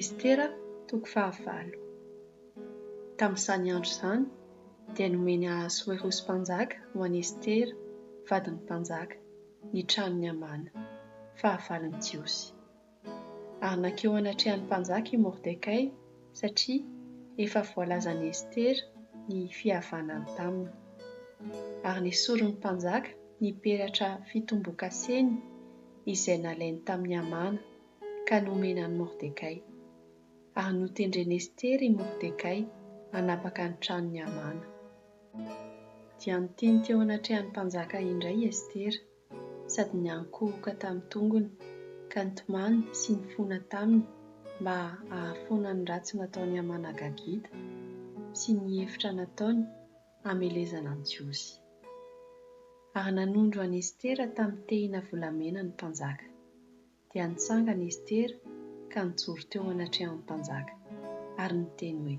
Estera toko fahavalo. Tamin'izany andro izany dia nomeny Ahasoerosy mpanjaka ho an'i Estera, vadin'ny mpanjaka, ny tranon'i Hamana, fahavalon'ny Jiosy. Ary nankeo anatrehan'ny mpanjaka i Mordekay, satria efa voalazan'i Estera ny fihavanany taminy. Ary nesorin'ny mpanjaka ny peratra fitombokaseny izay nalainy tamin'i Hamana ka nomeny an'i Mordekay. Ary notendren'i Estera i Mordekay hanapaka ny tranon'i Hamana. Dia niteny teo anatrehan'ny mpanjaka indray i Estera, sady niankohoka tamin'ny tongony, ka nitomany sy nifona taminy mba hahafoana ny ratsy nataon'i Hamana Agagita sy ny efitra nataony hamelezana ny Jiosy. Ary nanondro an'i Estera tamin'ny tehina volamena ny mpanjaka. Dia nitsangana i Estera ka nijoro teo anatrehan'ny mpanjaka, ary niteny hoe,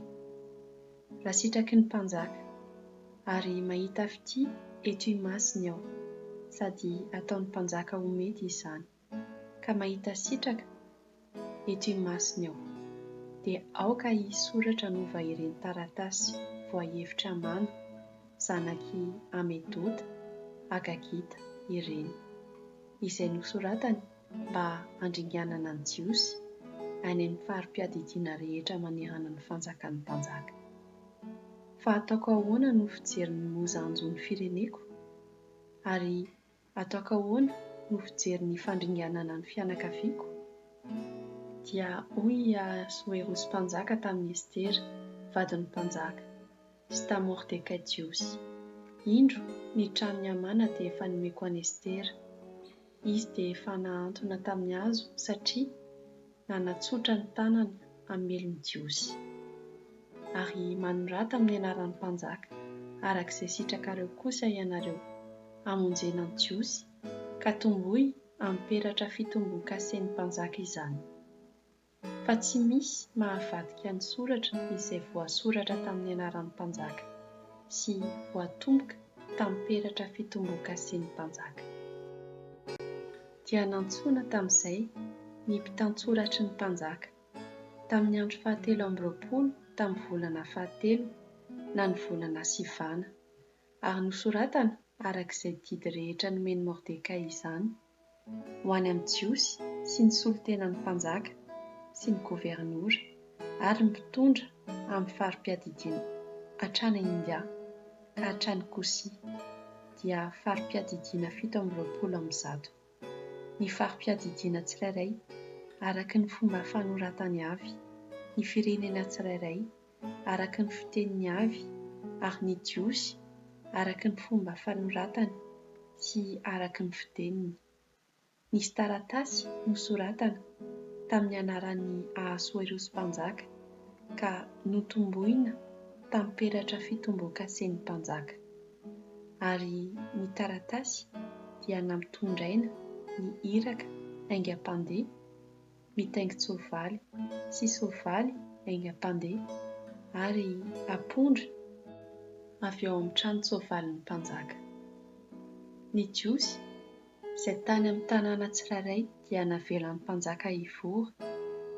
Raha sitraky ny mpanjaka, ary mahita fitia eto imasiny aho, sady ataon'ny mpanjaka ho mety izany, ka mahita sitraka eto imasiny aho, dia aoka hisoratra novahireny taratasy voahevitra Amana, zanak'i Hamedota, Agagita, ireny. izay nosoratany mba handringanana ny Jiosy any amin'ny fari-piadidiana rehetra manerana ny fanjakan'ny mpanjaka. Fa ataoko ahoana no fijery ny mozanjon'ny fireneko? Ary ataoko ahoana no fijery ny fandringanana ny fianakaviako? Dia hoy i Ahasoerosy mpanjaka tamin'i Estera, vadin'ny mpanjaka, sy tamin'i Mordekay Jiosy. Indro, ny tranon'i Hamana dia efa nomeko an'i Estera. Izy dia efa nahantona tamin'ny hazo satria nanatsotra ny tanany hamely ny Jiosy. Ary manorata amin'ny anaran'ny mpanjaka araka izay sitrakareo kosa ianareo, hamonjena ny Jiosy, ka tomboy amin'ny peratra fitombon-kasen'ny mpanjaka izany. fa tsy misy mahavadika ny soratra izay voasoratra tamin'ny anaran'ny mpanjaka sy voatomboka tamin'ny peratra fitomboan-kasen'ny mpanjaka. Dia nantsoina tamin'izay ny mpitantsoratry ny mpanjaka, tamin'ny andro fahatelo amby roapolo tamin'ny volana fahatelo na ny volana Sivana, ary nosoratana araka izay didy rehetra nomen'i Mordekay izany, ho any amin'ny Jiosy sy ny solontenan'ny mpanjaka sy ny governora ary ny mpitondra amin'ny fari-piadidiana hatrany India ka hatrany Kosi, dia fari-piadidiana fito amby roapolo amin'ny zato. Ny fari-piadidiana tsirairay, araka ny fomba fanoratany avy, ny firenena tsirairay, araka ny fiteniny avy, ary ny Jiosy araka ny fomba fanoratana sy araka ny fiteniny. Nisy taratasy nosoratana tamin'ny anaran'i Ahasoerosy Mpanjaka, ka notomboina tamin'ny peratra fitombon-kasen'ny mpanjaka. Ary ny taratasy dia nampitondraina ny iraka haingam-pandeha mitaingin-tsoavaly sy soavaly haingam-pandeha ary apondra avy ao amin'ny tranon-tsoavalin'ny mpanjaka. Ny Jiosy izay tany amin'ny tanàna tsirairay dia navelan'ny mpanjaka hivory,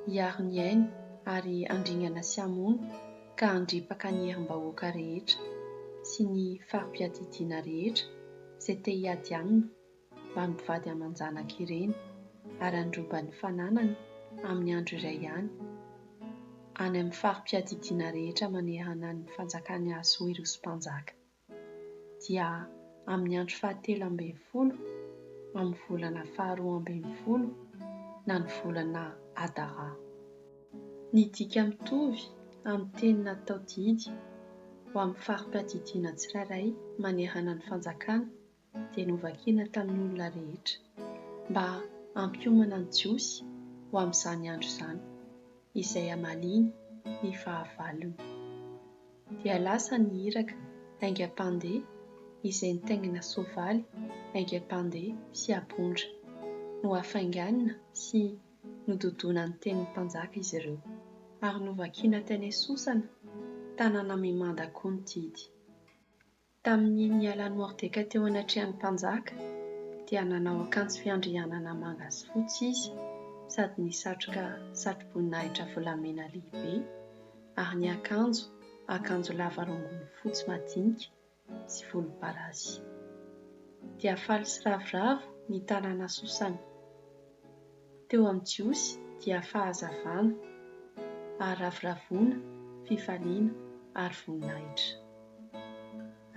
hiaro ny ainy ary handringana sy hamono ka handripaka ny herim-bahoaka rehetra sy ny fari-piadidiana rehetra izay te-hiady aminy mba mivady aman-janaka ireny ary handroba ny fananany amin'ny andro iray ihany, any amin'ny fari-piadidiana rehetra manerana ny fanjakan'i Asoerosy Mpanjaka, dia amin'ny andro fahatelo ambin'ny folo amin'ny volana faharoa ambin'ny folo na ny volana Adara. Ny dika mitovy amin'ny teny natao didy ho amin'ny fari-piadidiana tsirairay manerana ny fanjakana dia novakina tamin'ny olona rehetra, mba hampiomana ny Jiosy ho amin'izany andro izany, izay hamaliany ny fahavalony. Dia lasa ny iraka aingam-pandeha izay nitaingina soavaly aingam-pandeha sy apondra. Nohafainganina sy nododona ny tenin'ny mpanjaka izy ireo, ary novakina tany Sosana, tanàna mimanda koa ny didy. Tamin'ny nialan'i Mordekay teo anatrehan'ny mpanjaka, dia nanao akanjo fiandrianana manga sy fotsy izy sady nisatroka satroboninahitra volamena lehibe, ary niakanjo akanjo lava rongony fotsy madinika sy volomparasy. Dia faly sy ravoravo ny tanàna Sosana. teo amin'ny Jiosy dia fahazavana, faharavoravoana, fifaliana, ary voninahitra.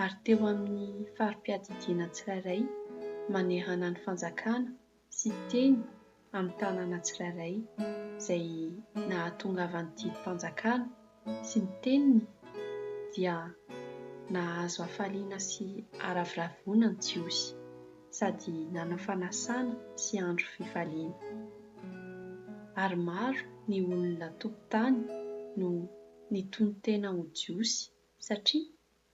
Ary teo amin'ny fari-piadidiana tsirairay manehana ny fanjakana sy teny amin'ny tanàna tsirairay izay nahatongavan'ny didim-panjakana sy ny teniny dia nahazo hafaliana sy haraviravona ny Jiosy sady nanao fanasana sy andro fifaliana. Ary maro ny olona tompon-tany no nitonon-tena ho Jiosy satria